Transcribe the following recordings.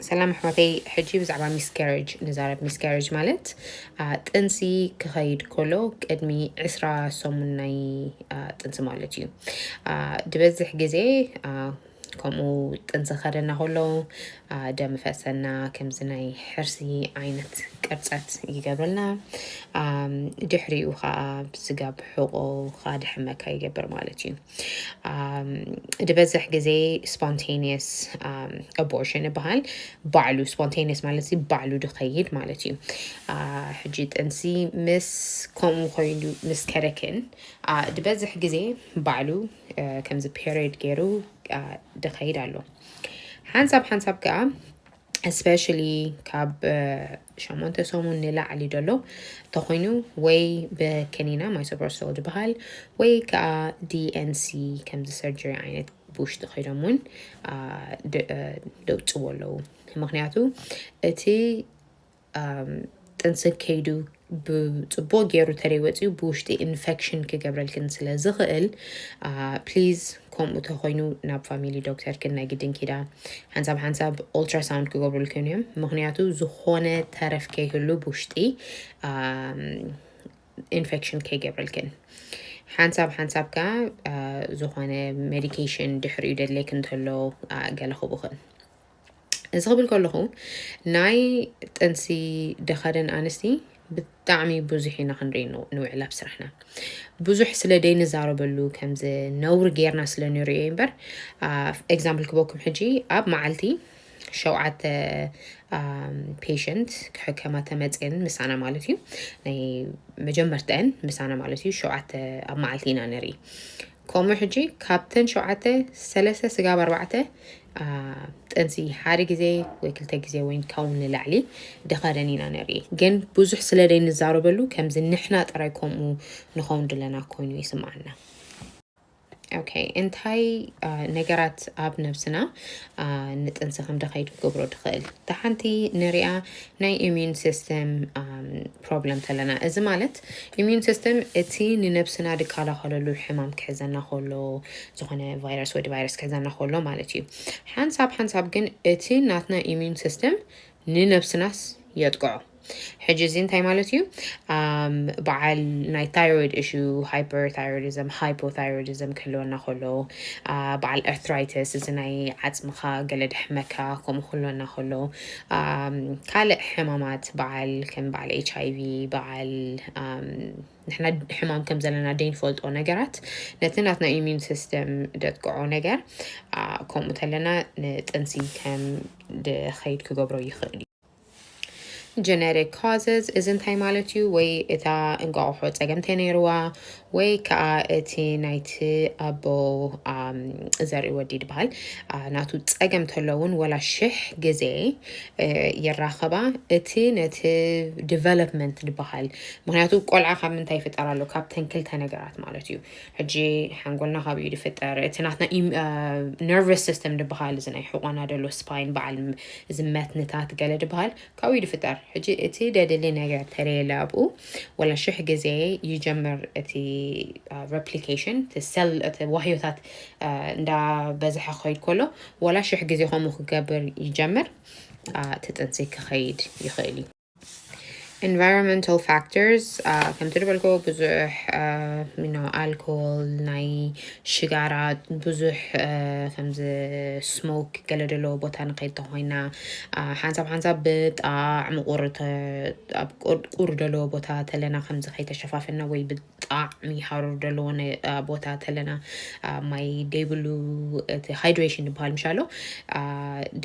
ሰላም ኣሕዋተይ ሕጂ ብዛዕባ ሚስካሬጅ ንዛረብ ሚስካሬጅ ማለት አ፣ ጥንሲ ክኸይድ ከሎ ቅድሚ ዕስራ ሰሙን ናይ አ፣ ጥንሲ ማለት እዩ አ፣ ዝበዝሕ ግዜ አ፣ ከምኡ ጥንሲ ከደና ከሎ አ፣ ደም ፈሰና ከምዚ ናይ ሕርሲ ዓይነት ቅርፀት ይገብረልና አ፣ ድሕሪኡ ከዓ ስጋብ ሕቆ ከዓ ድሕመካ ይገብር ማለት እዩ ዝበዝሕ ግዜ ስፖንቴኒየስ ኣቦርሽን ይበሃል ባዕሉ ስፖንቴኒየስ ማለት ዚ ባዕሉ ድኸይድ ማለት እዩ ሕጂ ጥንሲ ምስ ከምኡ ኮይኑ ምስ ከደክን ዝበዝሕ ግዜ ባዕሉ ከምዚ ፔሪድ ገይሩ ድኸይድ ኣሎ ሓንሳብ ሓንሳብ ከዓ ስፔሻሊ ካብ ሸሞንተ ሰሙን ንላዕሊ ደሎ ተኮይኑ ወይ ብከኒና ማይሶፕሮሶል ዝበሃል ወይ ከዓ ዲኤንሲ ከምዚ ሰርጀሪ ዓይነት ብውሽጢ ከይዶም እውን ደውፅዎ ኣለዉ ምክንያቱ እቲ ጥንሲ ከይዱ ብፅቡቅ ገይሩ ተደይ ወፅኡ ብውሽጢ ኢንፌክሽን ክገብረልክን ስለ ዝኽእል ፕሊዝ ከምኡ ተኮይኑ ናብ ፋሚሊ ዶክተርክን ናይ ግድን ኪዳ ሓንሳብ ሓንሳብ ኦልትራሳውንድ ክገብሩልክን እዮም ምክንያቱ ዝኾነ ተረፍ ከይህሉ ብውሽጢ ኢንፌክሽን ከይገብረልክን ሓንሳብ ሓንሳብ ከዓ ዝኾነ ሜዲኬሽን ድሕሪኡ ደድሌክ እንተሎ ገለ ክቡኽን እዚ ክብል ከለኹ ናይ ጥንሲ ደኸደን ኣንስቲ ብጣዕሚ ብዙሕ ኢና ክንርኢ ንውዕል ኣብ ስራሕና ብዙሕ ስለ ደይንዛረበሉ ከምዚ ነውሪ ጌርና ስለ ንሪኦ እምበር ኤግዛምፕል ክበኩም ሕጂ ኣብ መዓልቲ ሸውዓተ ፔሽንት ክሕከማ ተመፅን ምሳና ማለት እዩ ናይ መጀመርተአን ምሳና ማለት እዩ ሸውዓተ ኣብ መዓልቲ ኢና ንርኢ ከምኡ ሕጂ ካብተን ሸውዓተ ሰለስተ ስጋብ ኣርባዕተ ጥንሲ ሓደ ግዜ ወይ ክልተ ግዜ ወይ ካብኡ ንላዕሊ ደኸደን ኢና ንርኢ ግን ብዙሕ ስለ ዘይንዛረበሉ ከምዚ ንሕና ጥራይ ከምኡ ንኸውን ድለና ኮይኑ ይስምዓና ኦኬ እንታይ ነገራት ኣብ ነብስና ንጥንሲ ከም ደኸይድ ክገብሮ ትኽእል ተሓንቲ ንሪኣ ናይ ኢሚዩን ሲስተም ፕሮብለም ተለና እዚ ማለት Immune system እቲ ንነብስና ድካላከለሉ ሕማም ክሕዘና ከሎ ዝኮነ ቫይረስ ወዲ ቫይረስ ክሕዘና ከሎ ማለት እዩ ሓንሳብ ሓንሳብ ግን እቲ ናትና Immune system ንነብስናስ የጥቅዖ ሕጂ እዚ እንታይ ማለት እዩ በዓል ናይ ታይሮይድ እሹ ሃይፐርታይሮይዲዝም ሃይፖታይሮይዲዝም ክህልወና ከሎ በዓል ኤርትራይተስ እዚ ናይ ዓፅምካ ገለ ደሕመካ ከምኡ ክህልወና ከሎ ካልእ ሕማማት በዓል ከም በዓል ኤች ኣይቪ በዓል ንሕና ሕማም ከም ዘለና ደይንፈልጦ ነገራት ነቲ ናትና ኢሚዩን ሲስተም ደጥቅዖ ነገር ከምኡ ተለና ንጥንሲ ከም ድኸይድ ክገብሮ ይኽእል እዩ ጀነሪክ ካዘስ እዚ እንታይ ማለት እዩ ወይ እታ እንቋቑሖ ፀገምተ ነይርዋ ወይ ከዓ እቲ ናይቲ ኣቦ ዘርኢ ወዲ ድበሃል ናቱ ፀገም ተለውን ወላ ሽሕ ግዜ ይራኸባ እቲ ነቲ ዲቨሎፕመንት ድበሃል ምክንያቱ ቆልዓ ካብ ምንታይ ይፍጠር ኣሎ ካብተን ክልተ ነገራት ማለት እዩ ሕጂ ሓንጎልና ካብ እዩ ድፍጠር እቲ ናትና ነርቨስ ሲስተም ድበሃል እዚ ናይ ሕቆና ደሎ ስፓይን በዓል እዚ መትንታት ገለ ድበሃል ካብኡ ድፍጠር ሕጂ እቲ ደድሊ ነገር እንተለየለ ኣብኡ ወላ ሽሕ ግዜ ይጀምር እቲ ረፕሊኬሽን እቲ ሰል እቲ ዋህዮታት እንዳበዝሐ ክኸይድ ከሎ ወላ ሽሕ ግዜ ከምኡ ክገብር ይጀምር እቲ ጥንሲ ክኸይድ ይኽእል እዩ ኢንቫይሮንመንታል ፋክተርስ ከምቲ ዝበልኮ ብዙሕ ኣልኮል ናይ ሽጋራ ብዙሕ ከምዚ ስሞክ ገለ ዘለዎ ቦታ ንኸይድ ተኾይና ሓንሳብ ሓንሳብ ብጣዕ ምቁር ኣብ ቁር ዘለዎ ቦታ ተለና ከምዚ ከይተሸፋፈና ወይ ብጣዕሚ ሃሩር ዘለዎ ቦታ ተለና ማይ ደይብሉ እቲ ሃይድሬሽን ዝበሃል ምሻሎ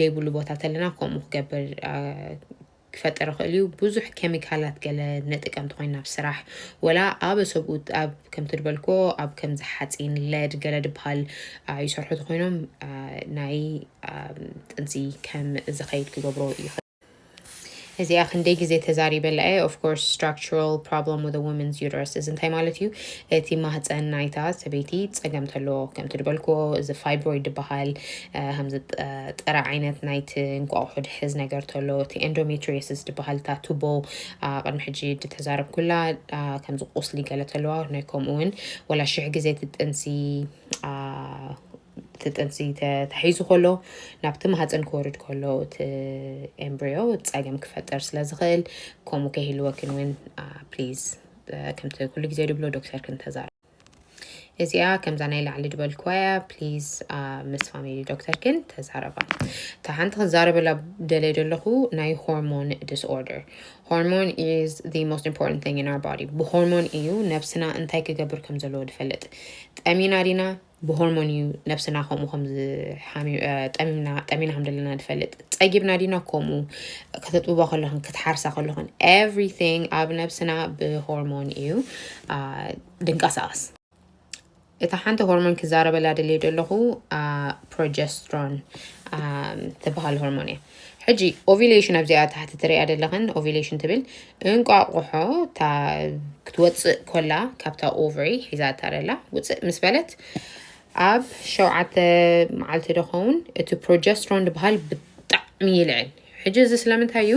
ደይብሉ ቦታ ተለና ከምኡ ክገብር ክፈጥር ይኽእል እዩ ብዙሕ ኬሚካላት ገለ ንጥቀምቲ ኮይና ኣብ ስራሕ ወላ ኣብ ሰብኡት ኣብ ከምቲ ድበልክዎ ኣብ ከምዚ ሓፂን ለድ ገለ ድበሃል ይሰርሑ ተኮይኖም ናይ ጥንሲ ከም ዝኸይድ ክገብሮ ይኽእል እዚኣ ክንደይ ግዜ ተዛሪበላ እየ ኦፍ ኮርስ ስትራክቸራል ፕሮብለም ዊዝ ወመንስ ዩተረስ እዚ እንታይ ማለት እዩ እቲ ማህፀን ናይታ ሰበይቲ ፀገም ተለዎ ከምቲ ዝበልክዎ እዚ ፋይብሮይድ ዝበሃል ከምዚ ጥረ ዓይነት ናይቲ እንቋቑሖ ድሕዝ ነገር ተሎ እቲ ኤንዶሜትሪየስስ ድበሃል እታ ቱቦ ቅድሚ ሕጂ ድተዛረብኩላ ከምዚ ቁስሊ ገለ ተለዋ ናይ ከምኡ እውን ወላ ሽሕ ግዜ እቲ ጥንሲ እቲ ጥንሲ ተታሒዙ ከሎ ናብቲ ማህፀን ክወርድ ከሎ እቲ ኤምብሪዮ ፀገም ክፈጠር ስለ ዝኽእል ከምኡ ከይህልወክን እውን ፕሊዝ ከምቲ ኩሉ ግዜ ድብሎ ዶክተር ክንተዛረብ እዚኣ ከምዛ ናይ ላዕሊ ዝበልክዋ እያ ፕሊዝ ምስ ፋሚሊ ዶክተርክን ተዛረባ እታ ሓንቲ ክዛረበላ ደለየ ዘለኹ ናይ ሆርሞን ዲስኦርደር ሆርሞን ኢዝ ዘ ሞስት ኢምፖርታንት ቲንግ ኢን ኣር ባዲ ብሆርሞን እዩ ነብስና እንታይ ክገብር ከም ዘለዎ ዝፈልጥ ጠሚና ዲና ብሆርሞን እዩ ነብስና ከምኡ ከምዝጠሚና ከም ዘለና ንፈልጥ ጸጊብና ዲና ከምኡ ከተጥብቦ ከለኹን ክትሓርሳ ከለኹን ኤቭሪቲንግ ኣብ ነብስና ብሆርሞን እዩ ድንቀሳቐስ እታ ሓንቲ ሆርሞን ክዛረበላ ደልየ ደለኹ ፕሮጀስትሮን ትበሃል ሆርሞን እያ ሕጂ ኦቪሌሽን ኣብዚኣ ታሕቲ ትሪያ ደለኽን ኦቪሌሽን ትብል እንቋቑሖ ክትወፅእ ኮላ ካብታ ኦቨሪ ሒዛታ ደላ ውፅእ ምስ በለት ኣብ ሸውዓተ መዓልቲ ዶ ኸውን እቲ ፕሮጀስትሮን ድበሃል ብጣዕሚ ይልዕል። ሕጂ እዚ ስለምንታይ እዩ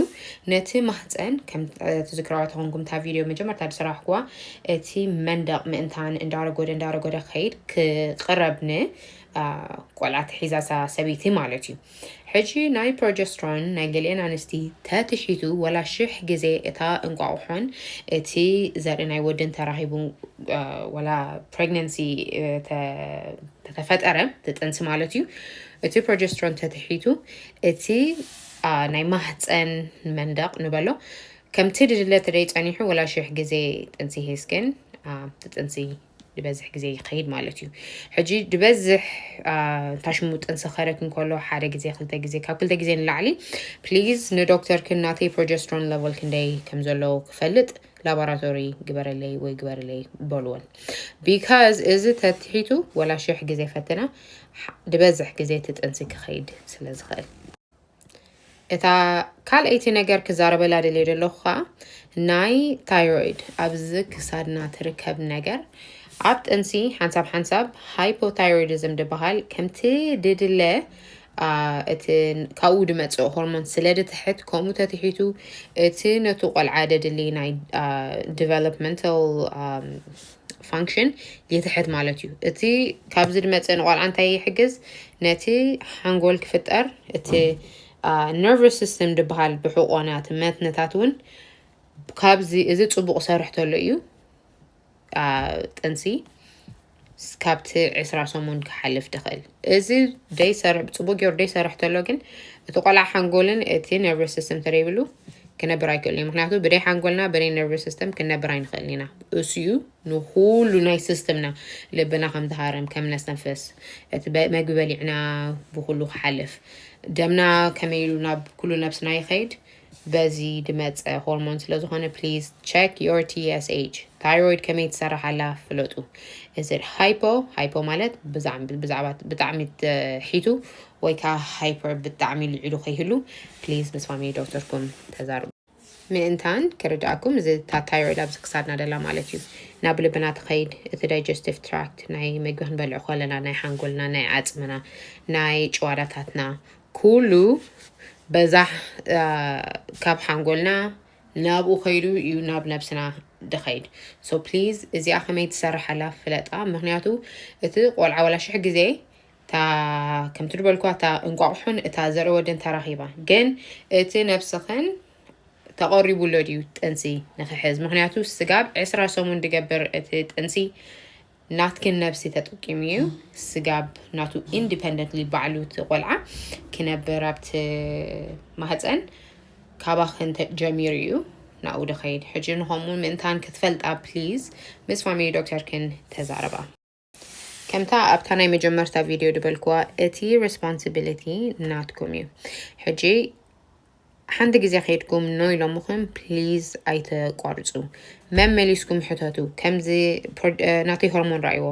ነቲ ማህፀን ከም ትዝክራዋ ተኾንኩም እታ ቪድዮ መጀመርታ ዝሰራሕኩዋ እቲ መንደቕ ምእንታን እንዳረጎደ እንዳረጎደ ክኸይድ ክቕረብ ን ቆልዓ ትሒዛ እዛ ሰበይቲ ማለት እዩ ሕጂ ናይ ፕሮጀስትሮን ናይ ገሊኤን ኣንስቲ ተትሒቱ ወላ ሽሕ ግዜ እታ እንቋቑሖን እቲ ዘርኢ ናይ ወድን ተራኺቡ ወላ ፕሬግነንሲ ተተፈጠረ ትጥንሲ ማለት እዩ እቲ ፕሮጀስትሮን ተትሒቱ እቲ ናይ ማህፀን መንደቕ ንበሎ ከምቲ ድድለ ተደይ ጸኒሑ ወላ ሽሕ ግዜ ጥንሲ ሂስክን ትጥንሲ ድበዝሕ ግዜ ይኸይድ ማለት እዩ ሕጂ ድበዝሕ ታሽሙ ጥንሰኸረ ክንከሎ ሓደ ግዜ ክልተ ግዜ ካብ ክልተ ግዜ ንላዕሊ ፕሊዝ ንዶክተር ክናተይ ፕሮጀስትሮን ለቨል ክንደይ ከም ዘለዎ ክፈልጥ ላቦራቶሪ ግበረለይ ወይ ግበረለይ በልወን ቢካዝ እዚ ተትሒቱ ወላ ሽሕ ግዜ ፈትና ድበዝሕ ግዜ ትጥንሲ ክኸይድ ስለ ዝኽእል እታ ካልኣይቲ ነገር ክዛረበላ ደልየ ዘለኹ ከዓ ናይ ታይሮይድ ኣብዚ ክሳድና ትርከብ ነገር ኣብ ጥንሲ ሓንሳብ ሓንሳብ ሃይፖታይሮይዲዝም ዝበሃል ከምቲ ድድለ እቲ ካብኡ ድመፅእ ሆርሞን ስለ ድትሕት ከምኡ ተትሒቱ እቲ ነቱ ቆልዓ ደድሊ ናይ ዲቨሎፕመንታል ፋንክሽን ይትሕት ማለት እዩ እቲ ካብዚ ድመፀ ንቆልዓ እንታይ ይሕግዝ ነቲ ሓንጎል ክፍጠር እቲ ነርቨስ ሲስተም ድበሃል ብሕቆናት መትነታት እውን ካብዚ እዚ ፅቡቅ ሰርሕ ተሎ እዩ ጥንሲ ካብቲ ዕስራ ሰሙን ክሓልፍ ድኽእል እዚ ደይሰርሕ ብፅቡቅ ገይሩ ደይሰርሕ ተሎ ግን እቲ ቆልዓ ሓንጎልን እቲ ነርቨ ሲስተም ተደይብሉ ክነብር ኣይክእልን እዩ ምክንያቱ ብደይ ሓንጎልና ብደይ ነርቨ ሲስተም ክንነብር ኣይንኽእልን ኢና እሱዩ ንኩሉ ናይ ሲስተምና ልብና ከም ዝሃርም ከም ነስተንፍስ እቲ መግቢ በሊዕና ብኩሉ ክሓልፍ ደምና ከመይ ኢሉ ናብ ኩሉ ነብስና ይኸይድ በዚ ድመፀ ሆርሞን ስለዝኾነ ፕሊዝ ቸክ ዮር ቲኤስኤች ታይሮይድ ከመይ ትሰርሕ ኣላ ፍለጡ እዚ ሃይፖ ሃይፖ ማለት ብዛዕባ ብጣዕሚ ሒቱ ወይ ከዓ ሃይፐር ብጣዕሚ ልዒሉ ከይህሉ ፕሊዝ ምስ ፋሚሊ ዶክተርኩም ተዛርቡ ምእንታን ክርድኣኩም እዚ እታ ታይሮይድ ኣብዚ ክሳድና ደላ ማለት እዩ ናብ ልብና ትኸይድ እቲ ዳይጀስቲቭ ትራክት ናይ መግቢ ክንበልዕ ከለና ናይ ሓንጎልና ናይ ዓፅምና ናይ ጭዋዳታትና ኩሉ በዛ ካብ ሓንጎልና ናብኡ ከይዱ እዩ ናብ ነብስና ድኸይድ ሶ ፕሊዝ እዚኣ ከመይ ትሰርሓላ ፍለጣ ምክንያቱ እቲ ቆልዓ ወላ ሽሕ ግዜ እታ ከምቲ ድበልኩ እታ እንቋቑሖን እታ ዘርኢ ወደን ተራኺባ ግን እቲ ነብስኽን ተቐሪቡ ኣሎ ድዩ ጥንሲ ንክሕዝ ምክንያቱ ስጋብ ዕስራ ሰሙን ድገብር እቲ ጥንሲ ናትክን ነብሲ ተጠቂሙ እዩ ስጋብ ናቱ ኢንዲፐንደንትሊ ባዕሉ እቲ ቆልዓ ክነብር ኣብቲ ማህፀን ካባክን ተ- ጀሚሩ እዩ ናብኡ ደኸይድ ሕጂ ንኸምኡ ምእንታን ክትፈልጣ ፕሊዝ ምስ ፋሚሊ ዶክተርክን ተዛረባ ከምታ ኣብታ ናይ መጀመርታ ቪድዮ ድበልክዋ እቲ ሬስፖንሲቢሊቲ ናትኩም እዩ ሕጂ ሓንቲ ግዜ ከይድኩም ኖ ኢሎምኹም ፕሊዝ ኣይተቋርፁ መመሊስኩም ሕተቱ ከምዚ ናተይ ሆርሞን ራእይዎ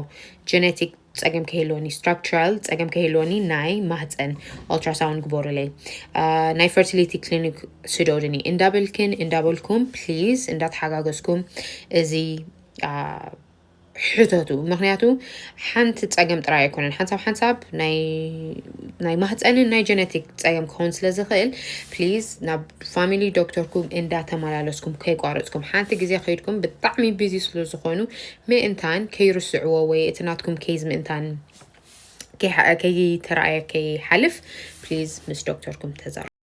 ጀነቲክ ፀገም ከይህልወኒ ስትራክቸራል ፀገም ከይህልወኒ ናይ ማህፀን ኦልትራሳውንድ ግበሩለይ ናይ ፈርቲሊቲ ክሊኒክ ስደዱኒ እንዳበልክን እንዳበልኩም ፕሊዝ እንዳተሓጋገዝኩም እዚ ሕተቱ ምክንያቱ ሓንቲ ፀገም ጥራይ ኣይኮነን ሓንሳብ ሓንሳብ ናይ ማህፀንን ናይ ጀነቲክ ፀገም ክኸውን ስለ ዝኽእል ፕሊዝ ናብ ፋሚሊ ዶክተርኩም እንዳተመላለስኩም ከይቋረፅኩም ሓንቲ ግዜ ከይድኩም ብጣዕሚ ቢዚ ስለ ዝኾኑ ምእንታን ከይርስዕዎ ወይ እቲ ናትኩም ኬዝ ምእንታን ከይተረኣየ ከይሓልፍ ፕሊዝ ምስ ዶክተርኩም ተዛር